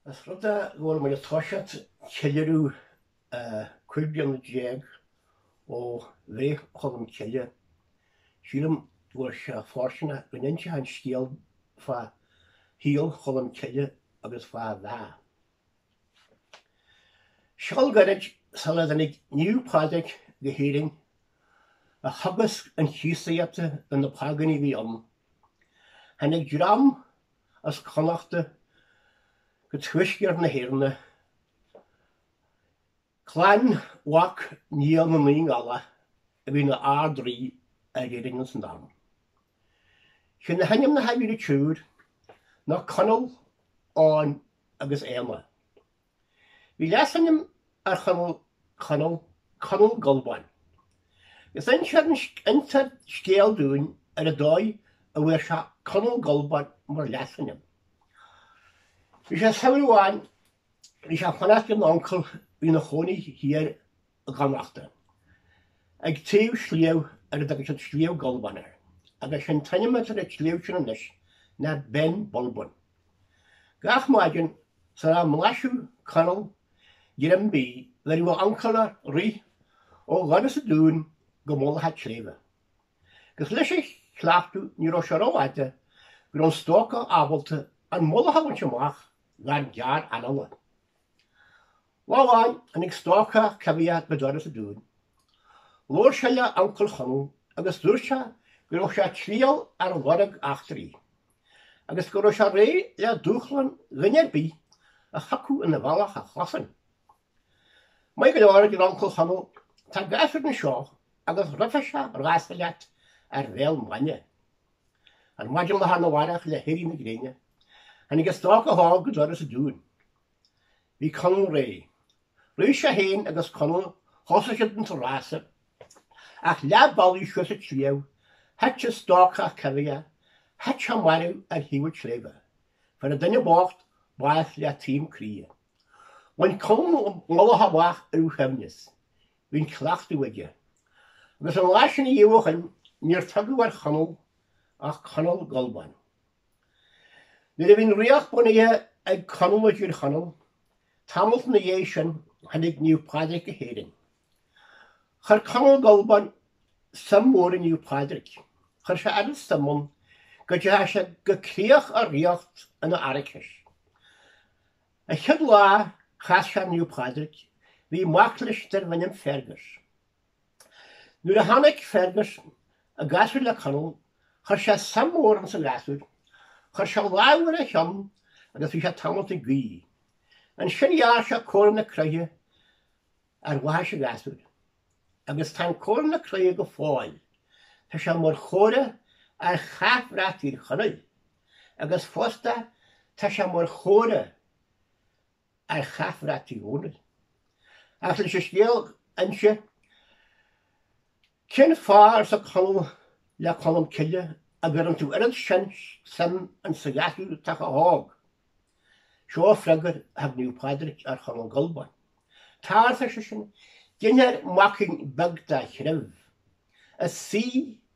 Ós rud é go bhfuil muid ag toiseacht ceiliúradh cúig bliana déag ó bhreith Cholm Cille. Sílim go bhfuil sé fóirsteanach go n-inseochainn scéal fá shaol Cholm Cille agus fá a bheatha. Seal gairid sula dtáinig Naomh Pádraig go hÉirinn a theagasc an Chríostaíochta do na págánaigh a bhí ann. Tháinig dream as Connachta go tuaisceart na hÉireann, clann mhac Niall na Naoi nGiallach, a bhí ina Ard-Rí ar Éirinn san am. Sé na hainmneacha a bhí ar an triúr ná Conall, Eoghan agus Éanna. Bhí leasainm ar Chonall, Conall, Conall Gulban. Agus instear scéal dúinn ar an dóigh a bhfuair sé Conall Gulban mar leasainm. Bhí sé samhradh amháin, bhí sé ag fanacht lena uncail a bhí ina chónaí thiar i gConnachta. Ag taobh sliabh ar a dtugadh siad Sliabh Gulbain air, agus sé'n t-ainm atá ar an tsliabh sin anois ná Beinn Bulbain. Gach maidin, sula mblaiseadh Conall greim bídh, bheireadh a uncail air rith ó dhoras an dúin go mullach a' tsléibhe. Agus leis a' chleachtadh ní raibh sé ró-fhada go raibh an stócach ábalta an mullach a bhaint amach gan gearr-anála. Lá amháin, tháinig stócach coimhthíoch go doras an dúin. Labhair sé le uncail Chonaill agus dúirt sé go raibh sé ag triall ar lorg eachtraí, agus go raibh sé réidh le dúshlán dhuine ar bith a thiocfadh ina bhealach a chosaint. Maith go leor, a deir uncail Chonaill, tá gasúr anseo agus rithfidh sé rása leat ar bhéal maidne. Ar maidin lá arna mhárach le héirí na gréine, tháinig an stócach óg go doras an dúin. Bhí Conall réidh. Rith sé féin agus Conall, thosaigh siad an rása. Ach leath bealaigh suas an tsliabh, thit an stócach coimhthíoch, thit sé marbh ar thaobh an tsléibhe. Fuair an duine bocht bás le taom croí. Bhain Conall an mullach amach ar a shuaimhneas. Bhí an cleachtadh aige. Agus ón lá sin amach, níor tugadh ar Chonall ach Conall Gulban. Nuair a bhí an ríocht bunaithe ag Conall i dTír Chonaill, tamalt ina dhiaidh sin, tháinig Naomh Pádraig go hÉirinn. Chuir Conall Gulban suim mhór i Naomh Pádraig. Chuir sé oiread suim ann go dteachaigh sé go críoch a ríocht ina araicis. An chéad lá chas sé ar Naomh Pádraig, bhí mac leis darbh ainm Fergus. Nuair a tháinig Fergus an gasúr le Conall, chuir sé suim mhór ins an ghasúr. Chuir sé lámh ar a cheann agus bhí sé tamalt ag guí. Ansin ghearr sé comhartha na croiche ar bhaithis an ghasúir. Agus tá an comhartha na croiche go fóill. Tá sé mar chomhartha ar chathbhrat Thír Chonaill. Agus fosta tá sé mar chomhartha ar chathbhrat Uí Dhónaill. Ach leis an scéal a inse, cén fáth, arsa Conall le Colm Cille, a gcuireann tú oiread sin suim insa ghasúr atá chomh hóg? Seo freagair a thug Naomh Pádraig ar Chonall Gulbáin. Tá, arsa seisean, ginfear maicín beag dá threibh, is saoi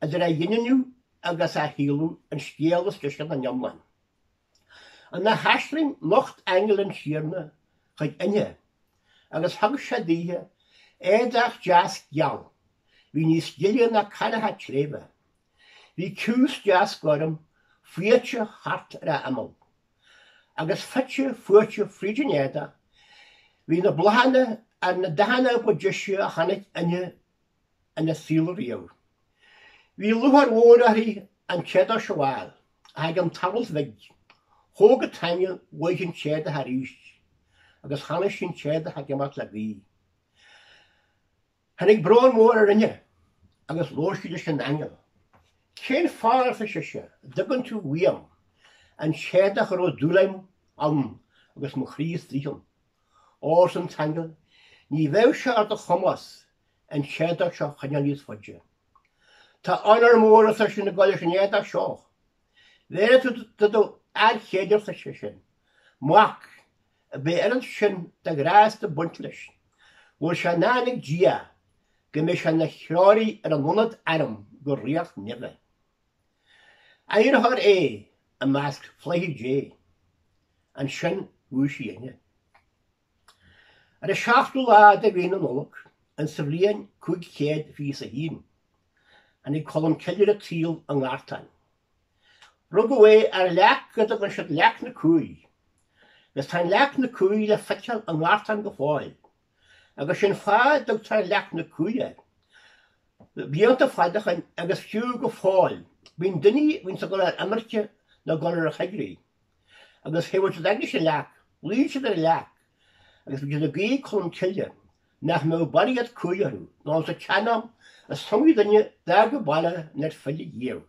idir a ghineadh agus a shaolú an scéal is deise den iomlán. Ina haisling nocht aingeal an Tiarna chuig Eithne agus thug sé daoithe éadach deas geal, bhí níos gile ná canach an tsléibhe, bhí ciumhais deas gorm fuaite thart ar a imeall, agus fite fuaite fríd an éadach, bhí na bláthanna ar na dathanna ba deise a chonaic Eithne ina saol riamh. Bhí lúcháir mhór uirthi an t-éadach a fheiceáil, ach i gceann tamaill bhig, thóg an t-aingeal uaithi an t-éadach arís, agus chonaic sí an t-éadach ag imeacht le gaoth. Tháinig brón mór ar Eithne, agus labhair sí leis an aingeal. Cén fáth, arsa sise, a dtugann tú uaim an t-éadach a raibh dúil agam ann agus mo chroí istigh ann? Ó, arsa an t-aingeal, ní bheidh sé ar do chumas an t-éadach seo a choinneáil níos faide. Tá onóir mhór, arsa seisean, ag gabháil leis an éadach seo. Bhéarfaidh tú do do fhear céile, arsa seisean, mac a mbeidh oiread sin de ghrásta ag baint leis, go bhfuil sé i ndán ag Dia go mbeidh sé ina threoraí ar an iomad anam go ríocht neimhe. Áireofar é i measc flaithí Dé. Ansin dhúisigh Eithne. Ar an seachtú lá de mhí na Nollag insa bhliain cúig chéad fiche is a haon, tháinig Colm Cille ar an tsaol i nGartán. Rugadh é ar leac a dtugann siad Leac na Cumhaí, agus tá an Leac na Cumhaí le feiceáil i nGartán go fóill. agus sin fáth a dtugtar Leac na Cumhaí uirthi. Blianta fada ó shin, agus fiú go fóill, bíonn daoine a bhíonns ag gabháil ar imirce nó ag gabháil ar an choigrích, agus thabhairt siad aignis an leac, luíonn siad ar an leac, agus bíonn siad ag guí Colm Cille, nach mbeadh barraíocht cumhaí orthu, nó insa tseanam, is iomaí duine a d'fhág an baile nár phill ariamh.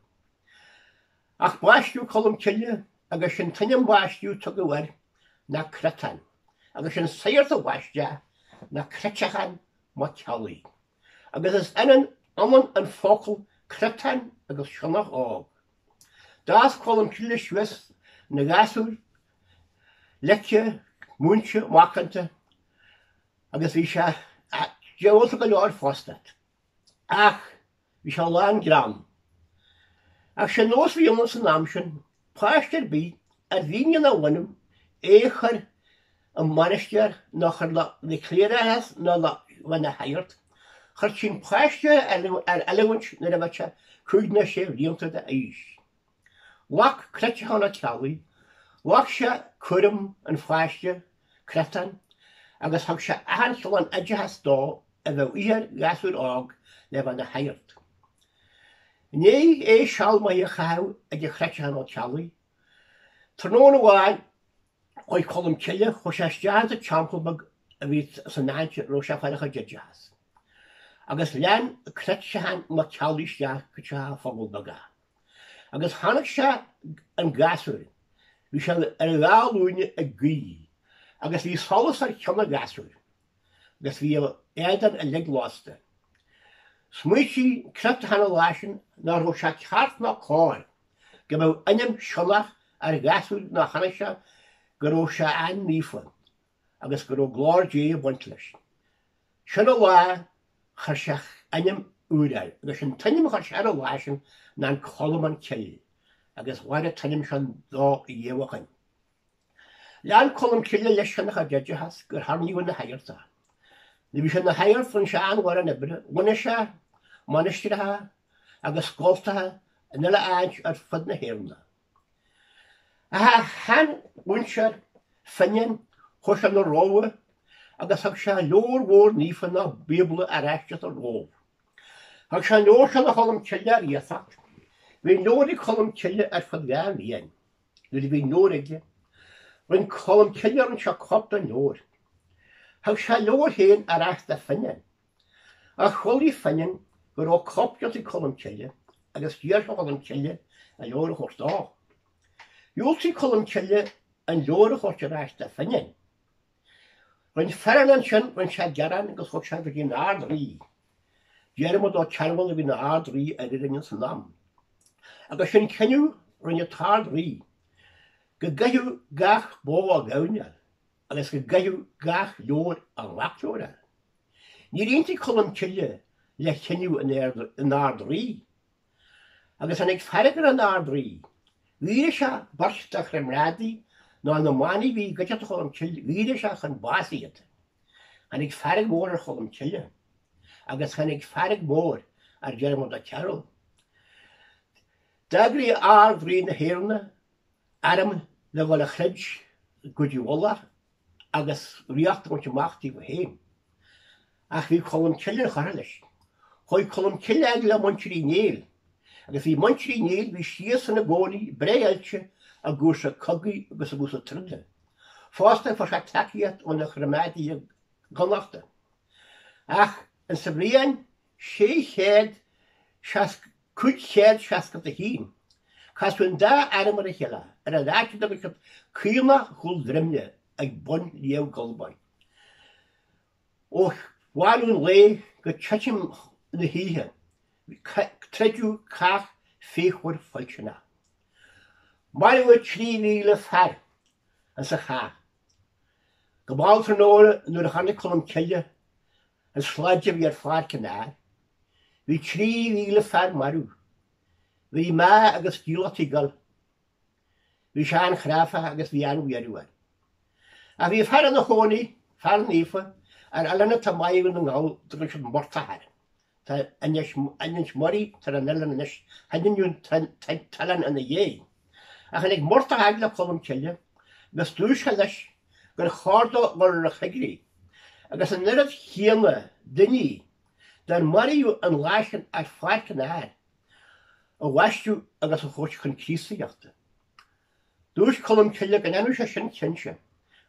Ach baisteadh Colm Cille agus sé an t-ainm baiste a tugadh air ná Creatán, agus sé an sagart a bhaist é ná Creatachán Mac Ceallaigh. Agus is ionann ionann an focal creatán agus sionnach óg. D'fhás Colm Cille suas ina ghasúr, leice, múinte, macánta, agus bhí sé diabhalta go leor fosta. Ach bhí sé lán greann. Ach sé an nós a bhí ann san am sin, páiste ar bith ar mhian lena bhunadh é a chur i mainistir ná a chur le cléireachas ná ná bheith ina shagart. Chuirtí an páiste ar oiliúint nuair a bheadh sé cúig ná sé bhlianta d'aois. Ghlac Creatachán Ó Ceallaigh, ghlac sé cúram an pháiste, Creatán, agus thug sé achan chineál oideachas dó a bheadh a dhíth ar ghasúr óg le bheith ina shagart. I ndiaidh é seal maith a chaitheamh ag Creatachán Ó Ceallaigh. Tráthnóna amháin chuaigh Colm Cille chuaigh sé isteach sa teampall beag a bhí san áit a raibh sé ag fáil a chuid oideachas. Agus lean Creatachán Mac Ceallaigh isteach go teach an phobail beag é. Agus chonaic sé an gasúr. Bhí sé ar a dhá ghlúine ag guí. Agus bhí solas ar cheann an ghasúir. Agus bhí a éadan uilig lasta. Smaoitigh Creatachán an lá sin nach raibh sé ceart ná cóir go mbeadh ainm sionnach ar an ghasúr ná chonaic sé go raibh sé an-naofa. agus go raibh glóir Dé ag baint leis. Sin an lá a chuir sé ainm úr air, agus sé an t-ainm a chuir sé air an lá sin ná an Colm na Cille, agus ghair an t-ainm sin dó ina dhiaidh sin. Lean Colm Cille leis lena chuid oideachas gur hoirníodh ina shagart é. Nuair a bhí sé ina shagart rinn sé an-mhórán oibre, bhunaigh sé mainistreacha agus scoltacha in uile áit ar fud na hÉireann. A sheanmhúinteoir Finnian chuaigh sé 'na Róimhe agus thug sé leabhar mhór naofa ná Bíobla ar ais as an Róimh. Thug sé an leabhar seo do Cholm Cille ar iasacht. Bhí an leabhar ag Colm Cille ar feadh dhá bhliain. Nuair a bhí an leabhar aige, rinn Colm Cille, rinn sé cóip den leabhar. Thug sé a leabhar féin ar ais do Finnian. Ach chualaidh Finnian go rabh cóip déanta ag Colm Cille agus d'iarr sé ar Cholm Cille an leabhar a thabhairt dó. Dhiúltaigh Colm Cille an leabhar a thabhairt ar ais do Finnian. Rinn Finnian ansin, rinn sé gearán agus thug sé go dtí an Ard-Rí. Diarmaid Ó Cearbhaill a bhí ina Ard-Rí ar Éirinn ins an am. Agus sé an cinneadh a rinne an tArd-Rí, go gcaithfeadh gach bó a gamhain agus go gcaithfeadh gach leabhar a mhacleabhar a. Níor aontaigh Colm Cille le cinneadh an Ard-Rí, agus tháinig fearg ar an Ard-Rí. Dhaoraigh sé beirt dá chomrádaí nó na manaigh a bhí i gcuideachta Cholm Cille, dhaoraigh sé chun báis iad. Tháinig fearg mhór ar Cholm Cille, agus tháinig fearg mhór ar Dhiarmaid Ó Cearúill. D'eagraigh Ard-Rí na hÉireann arm le dhul a throid i gCúige Uladh agus ríocht a bhaint amach daofa féin. Ach bhí Colm Cille inchurtha leis. Chuaigh Colm Cille fhad le Muintir Uí Néill. Agus bhí Muintir Uí Néill, bhí siadsan ina gcónaí breá oilte i gcúrsaí cogaidh agus i gcúrsaí troda. Fosta fuair sé tacaíocht óna chomrádaí i gConnachta. Ach ins sa bhliain sé chéad seasc 561. Casadh an dá arm ar a chéile ar a leac de bhuicead Caonach Chúl Dreimhne ag bun Shliabh Gulbain. Ó bhánú an lae go titim na hoíche troideadh cath fíochmhar fuilteach. Maraíodh 3,000 fear ins an chath. Go mall tráthnóna nuair a chonaic Colm Cille an slad a bhí ar pháirc an áir Bhí 3,000 fear marbh. Bhí mná agus dílleachtaí ag gol. Bhí sé an-chráite agus bhí an-bhuaireamh air. Ach bhí fear ina chónaí, fear naofa, ar oileán atá i mBá Dhún na nGall, a dtugadh siad Muircheartach air. Tá Inishmurray atá ar an oileán anois, hainmníodh an t-oileán ina dhiaidh. Ach tháinig Muircheartach fhad le Colm Cille agus dúirt sé leis gur chóir dó dul ar an choigrích, agus an oiread chéanna daoine Dár maraíodh an lá sin ar Pháirc an Áir a bhaisteadh agus a thabhairt chun Críostaíochta. Dúirt Colm Cille go ndéanfadh sé sin cinnte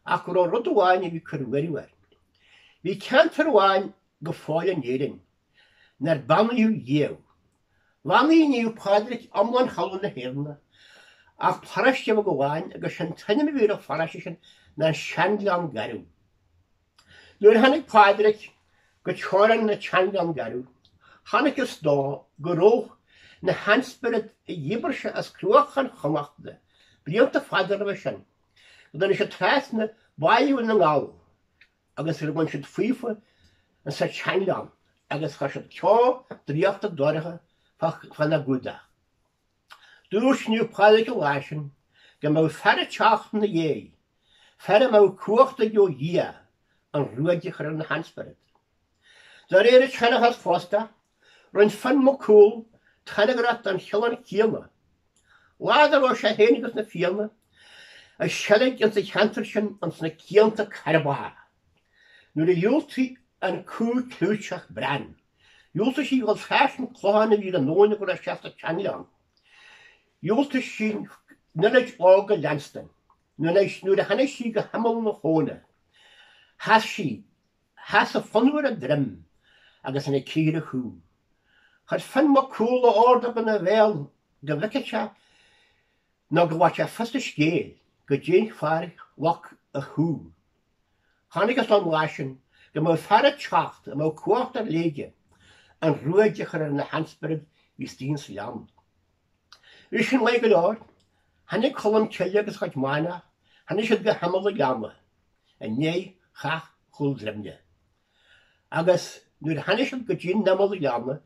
ach go raibh rud amháin a bhí cur buairimh air. Bhí ceantar amháin go fóill in Éirinn nár beannaíodh riamh. Bheannaigh Naomh Pádraig iomlán thalamh na hÉireanna ach paráiste bheag amháin agus sé'n t-ainm a bhí ar an pharáiste sin ná Sean-Ghleann Garbh. Nuair a tháinig Pádraig go teorainn an tSean-Ghleann Garbh, chonacthas dó go raibh na hainspioraid a dhíbir sé as Cruachan Chonnachta blianta fada roimhe sin, go dtáinig siad trasna Bhá Dhún na nGall agus gur bhain siad faofa sa tSean-Ghleann agus chuir siad ceo draíochta dorcha fána gcumhdach. Dúirt Naomh Pádraig an lá sin, go mbeadh fear ag teacht ina dhéidh, fear a mbeadh cumhacht aige ó Dhia an ruaig a chur ar na hainspioraid. De réir an tseanchais fosta, rinne Fionn Mac Cumhaill tairngreacht don Cholm céanna. Lá dá raibh sé féin agus na Fianna ag seilg ins an cheantar sin ins na cianta cairbreacha, nuair a dhiúltaigh an cú clúiteach Bran. Dhiúltaigh sí a ghabháil trasna an chlocháin a bhí ar an abhainn go raibh sí sa tSeanghleann. Dhiúltaigh sí an eilit óg a leanstan. Nuair a tháinig sí go himeall na habhna, sheas sí, sheas an fionnadh ar a droim agus ina chíor ar an chú. Chuir Fionn Mac Cumhaill a ordóg ina bhéal go bhfeicfeadh sé nó go bhfaigheadh sé fios an scéil goidé an fáth ar loic a chú Chonacthas an lá sin go mbeadh fear ag teacht a mbeadh cumhacht ar leith aige an ruaig a chur ar na hainspioraid a bhí istigh sa ghleann. Bhí sin maith go leor. Tháinig Colm Cille agus a chuid manach, tháinig siad go himeall an ghleanna, i ndiaidh chath Chúl Dreimne. Agus nuair a tháinig siad go dtí an imeall an ghleanna,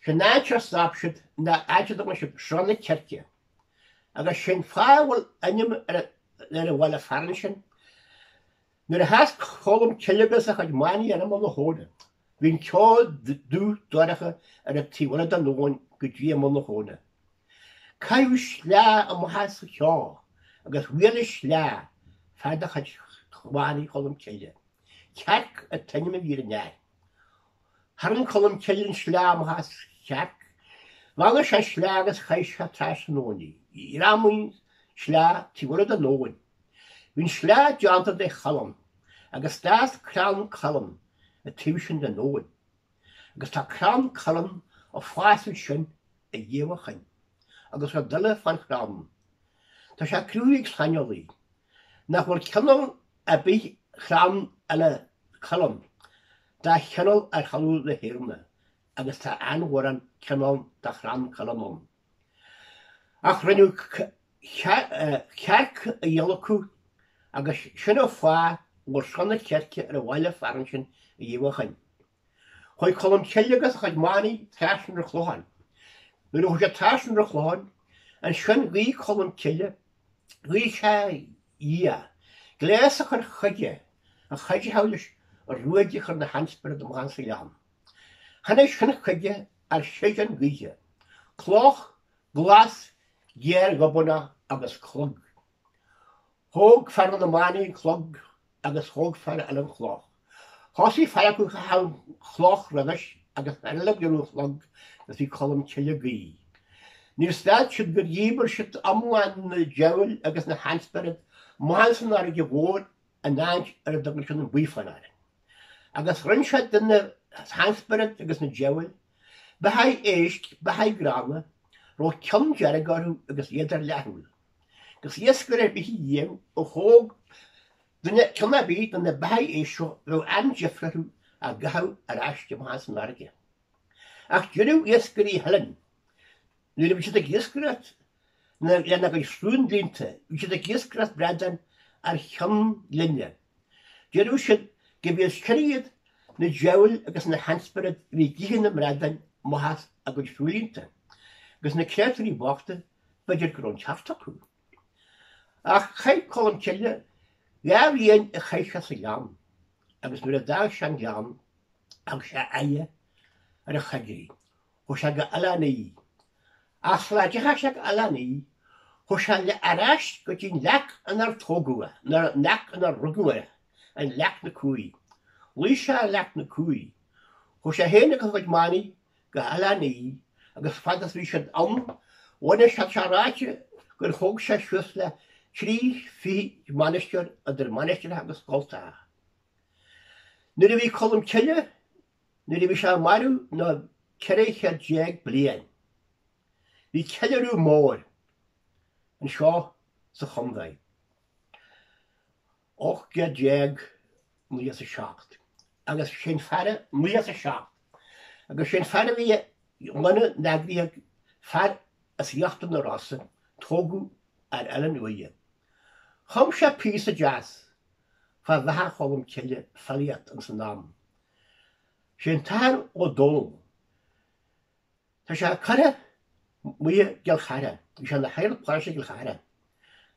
sin an áit ar stop siad, in áit a dtugann siad Srath na Circe. Agus sin an fáth a bhfuil ainm ar an bhaile fearainn sin. Nuair a sheas Colm Cille agus a chuid manaigh ar imeall na habhna, bhí an ceo dubh dorcha ar an taobh eile den abhainn go dtí imeall na habhna. Caitheadh sleá amach as an cheo agus bhuail an sleá fear de chuid mhanaigh Cholm Cille, Cearc an t-ainm a bhí ar an fhear. Tharraing Colm Cille an sleá amach as Cearc, bheannaigh sé an sleá agus chaith sé trasna an abhainn í. Ghreamaigh an sleá taobh eile den abhainn. Bhí an sleá deánta de chuileann agus d'fhás crann cuilinn ar an taobh sin den abhainn. Agus tá crann cuilinn ag fás ansin ariamh ó shin agus rud eile fán chrann, tá sé cruthaithe ag saineolaí nach bhfuil cineál ar bith chrann eile cuilinn Dá chineál ar thalamh na hÉireanna agus tá an-mhórán cineál de chrann cuilinn ann. Ach rinneadh Cearc a adhlacadh agus sin an fáth a bhfuil Srath na Circe ar an bhaile fearainn sin ariamh ó shin. Chuaigh Colm Cille agus a chuid manaigh trasna an chlocháin. Nuair a chuaigh siad trasna an chlocháin, ansin ghuigh Colm Cille, ghuigh sé ar Dhia, gléas a chur chuige, a chuideochadh leis an ruaig a chur ar na hainspioraid amach as an ghleann. Tháinig sin chuige ar shéideán gaoithe, cloch ghlas ghéar ghobánach agus clog. Thóg fear de na manaigh an clog agus thóg fear eile an chloch. Thosaigh fear acu ag caitheamh an chloch roimhis agus fear eile ag iarraidh an chlog agus bhí Colm Cille ag guí. Níor stad siad gur dhíbir siad iomlán na diabhail agus na hainspioraid amach san fharraige mhór an áit ar a dtugann siad an buíflán air, agus rinn sé de na hainspioraid agus na diabhail, beathaigh éisc, beathaigh gránna, a raibh cionn dearg orthu agus iad ar leathshúil, agus iascaire ar bith a dhíobh a thóg duine cionn ar bith de na beathaigh éisc seo bheadh an-deifre orthu á gcaitheamh ar ais amach san fharraige. Ach deireadh iascairí Theileann, Nuair a bhí siad ag iascaireacht lena gcuid sruthlíonta, bhí siad ag iascaireacht bradán ar Cheann Ghlinne. Deireadh siad go mb'é is cine iad na diabhail agus na hainspioraid a bhí ag ithe na mbradán amach as a gcuid sruthlíonta, agus na créatúirí bochta, b'fhéidir go raibh an ceart acu. Ach chaith Colm Cille dhá bhliain ag teagasc sa ghleann, agus nuair a d'fhág sé an gleann, thug sé a aghaidh ar an choigríoch. Chuaidh sé go Oileán Í. Ach sula dteachaidh sé go Oileán Í chuaidh sé ar ais go dtí'n leac in ar tógadh é, nó an leac in ar rugadh é, an leac na Cumhaí. Luigh sé ar leac na Cumhaí. Chuaidh sé féin agus a chuid manaigh go hOileán Í agus fad is bhí siad ann bhunaigh siad, tá sé ráite gur thóg sé suas le trí fichid mainistir idir mainistreacha agus scoltacha. Nuair a bhí Colm Cille Nuair a bhí sé marbh na ceithre chéad déag bliain bhí ceiliúradh mór anseo sa chondae. Ocht gcéad déag naoi is a seacht agus sé'n fear a, naoi is a seacht, agus sé'n fear a bhí i nGleann an Eagraidh fear as Íochtar na Rosa tógadh ar Oileán Uaighe. Chum sé píosa deas fá Bheatha Cholm Cille filíocht ins an am Sé an tAthair Ó Dónaill. Tá sé curtha amuigh i gCill Chartha. Bhí sé ina shagart paróiste i gCill Chartha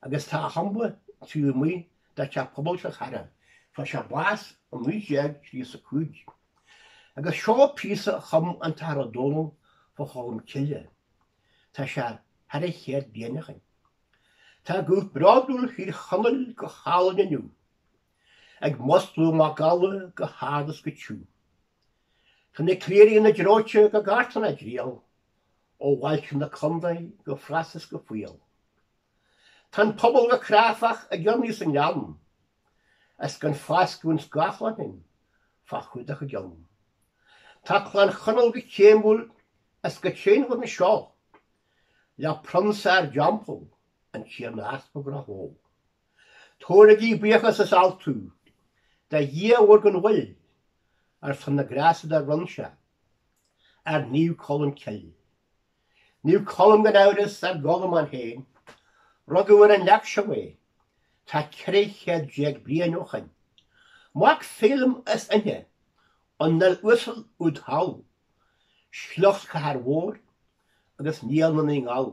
agus tá a thumba taobh amuigh de Theach Pobail Chill Chartha. Fuair sé bás in 1935. Agus seo píosa a chum an tAthair Ó Dónaill fá Cholm Cille. Tá sé thar chéad bliain ó shin. Tá guth bródúil Thír Chonaill go hálainn inniu. Ag múscladh macalla go hard is go tiugh. Tá na cléirigh ina ndróite go Gartan ag triall, Ó bhailte na condae go fras is go fial. Tá an pobal go cráifeach ag urnaí sa ngleann, Is gan foscadh an scáthláin fá chumhdach a gcionn. Tá Clann Chonaill go céimiúil is go tréan anseo, Le prionsa ár dteampall an Tiarna Easpag Ráth Bhoth. Tabhairigí buíochas is altú do Dhia mhór gan mhoill ar son na ngrása dár bhronn sé ar Naomh Colm Cill. Naomh Colm gan amhras, ár gColm ann féin. Rugadh ar an leac seo é, tá ceithre chéad déag bliain ó shoin. Mac Feidhlim is Eithne, an fhuil uasal úd thall, sliocht Chathair Mhóir agus Niall na Naoi nGiall.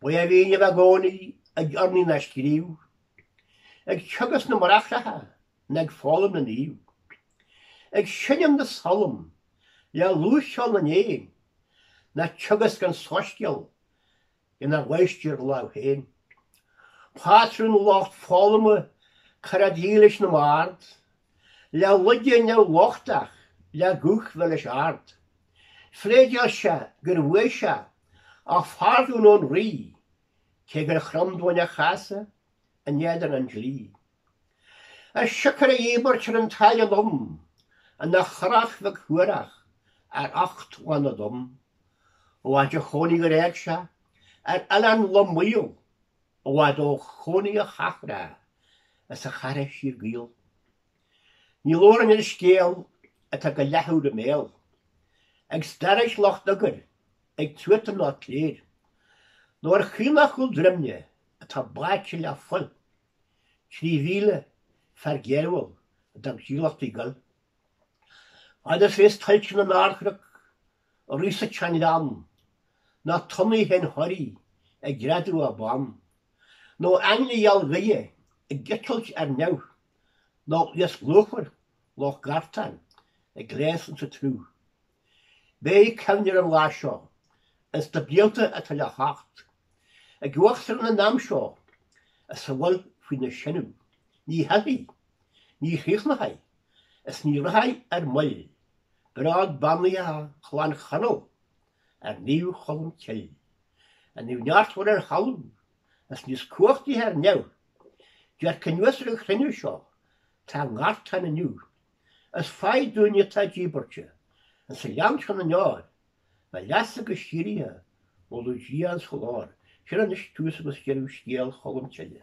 Ba é a mhian a bheith i gcónaí ag urnaí ná ag scríobh, ag teagasc na mbráithreacha ná ag foghlaim na Naomh, ag seinm na salm le lúth cheol na n-éan ná ag teagasc an soiscéal ina mháistir lámh féin. Pátrún lucht foghlama, cara dílis na mbard, le loigeadh na lochtach le guth milis ard. Phléideáil sé gur bhuaigh sé a phardún ón rí, cé gur chrom daoine a chasadh in éadan an dlí. Is siocair a dhíbirt ar an tsáile lom ina churach bheag shuarach ar ucht lán na dtonn, ó áit a chónaigh gur éag sé ar oileán lom maol. I bhfad ó chónaí a chathracha is a chairde fíor-Ghael. Ní labhraim ar an scéal atá go leathuair i mbéal ag stair is lucht údair, ag tuata ná cléir, nó ar Chaonach Chúl Dreimhne atá báite le fuil, trí mhíle, fear géarmhall a d'fhág dílleachtaí ag gol. Fad is a bhíos tuilte na n-ardchnoc Ag rith sa tseanghleann, ná tonnaí shean-Thoraí ag greadadh a beann, nó aingle geal Dé ag eitilt ar neamh, ná iasc lúfar Loch Gartáin ag gluaiseacht sa tsruth. Béidh cuimhne ar an lá seo, ins na blianta atá le theacht, ag uachtarán an am seo, is a bhfuil faoina sineadh. Ní thitfidh. Ní chríochnóchaidh, is ní rachaidh ar moill, bród beannaithe Chlann Chonaill ar Naomh Cholm Cill. An naomh neartmhar ar thalamh, is níos cumhachtaighe ar neamh, dearc anuas ar an chruinniú seo, tá i nGartán inniu, is faigh dúinne atá díbeartha insa ghleann seo na ndeor, bheith leatsa go síorraidhe, ag moladh Dia insa ghlóir. Sin anois tús agus deireadh scéal Cholm Cille.